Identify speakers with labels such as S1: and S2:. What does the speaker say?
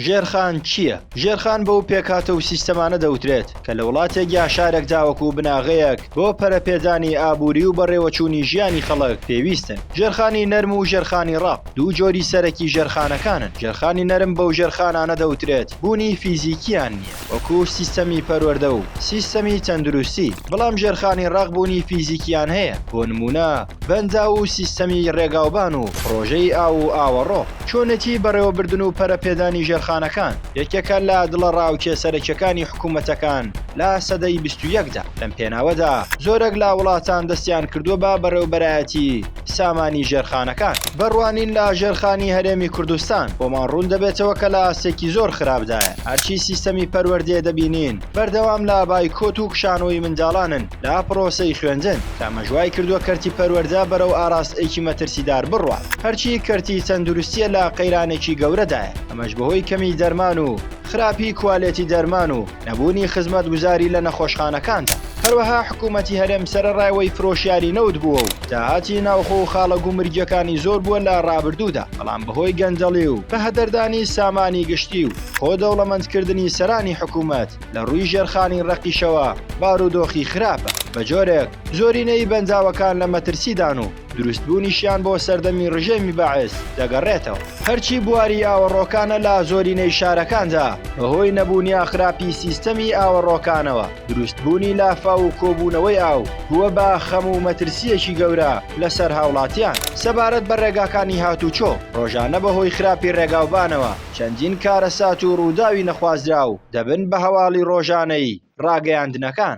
S1: ژێرخان چییە؟ ژێرخان بەو پێکهاتە و سیستەمانە دەوترێت کە لە وڵاتێک یا شارێک تاوەکو بناغەیەک بۆ پەرەپێدانی ئابووری و بەڕێوەچوونی ژیانی خەڵک پێویستن. ژێرخانی نەرم و ژێرخانی ڕەق دوو جۆری سەرەکی ژێرخانەکانن. ژێرخانی نەرم بەو ژێرخانانە دەوترێت بوونی فیزیکییان نییە. وەکو سیستەمی پەروەردە و سیستەمی تەندروستی، بەڵام ژێرخانی ڕەق بوونی فیزیکیان هەیە، بۆ نموونە بەنداو و سیستەمی ڕێگاوبان و پڕۆژەی ئاو و ئاوەڕۆ. چۆنێتی بەڕێوەبردن و پەرەپێدانی ژێرخانەکان یەکێکە لە دڵەڕاوکێ سەرەکیەکانی حکوومەتەکان لە سەدەی بیست و یەکدا، لەم پێناوەدا زۆرێک لە وڵاتان دەستیان کردووە بە بەڕێوبەرایەتی، سامانی ژێرخانەکان بڕوانین لە ژێرخانی هەرێمی کوردستان بۆمان ڕوون دەبێتەوە کە لە ئاستێکی زۆر خراپدایە هەرچی سیستەمی پەروەردێ دەبینین بەردەوام لە بایکۆت و کشانەوەی منداڵانن لە پڕۆسەی خوێندن کە ئەمەش وای کردووە کەرتی پەروەردە بەرەو ئاراستەیەکی مەترسیدار بڕوات هەرچی کەرتی تەندروستیە لە قەیرانێکی گەورەدایە ئەمەش بەهۆی کەمی دەرمان و خراپی کوالێتی دەرمان و نەبوونی خزمەتگوزاری لە نەخۆشخانەکاندا. هەروەها حکوومەتی هەرێم سەرەڕای ئەوەی فرۆشیاری نەوت بووە و داهاتی ناوخۆ و خاڵە گومرگییەکانی زۆر بووە لە ڕابردوودا، بەڵام بەهۆی گەندەڵی و بەهەدەردانی سامانی گشتی و خۆ دەوڵەمەندکردنی سەرانی حکوومەت لە ڕووی ژێرخانی ڕەقیشەوە بارودۆخی خراپە، بە جۆرێک زۆرینەی بەنداوەکان لە مەترسیدان و. دروستبوونیشیان بۆ سەردەمی ڕژێمی بەعس دەگەڕێتەوە، هەرچی بواری ئاوەڕۆکانە لە زۆرینەی شارەکاندا بەهۆی نەبوون یا خراپی سیستەمی ئاوەڕۆکانەوە دروستبوونی لافاو و کۆبوونەوەی ئاو بووە بە خەم و مەترسییەکی گەورە لەسەر هاوڵاتیان سەبارەت بە ڕێگاکانی هاتوچۆ ڕۆژانە بەهۆی خراپی ڕێگاوبانەوە چەندین کارەسات و ڕووداوی نەخوازراو دەبن بە هەواڵی ڕۆژانەی ڕاگەیاندنەکان.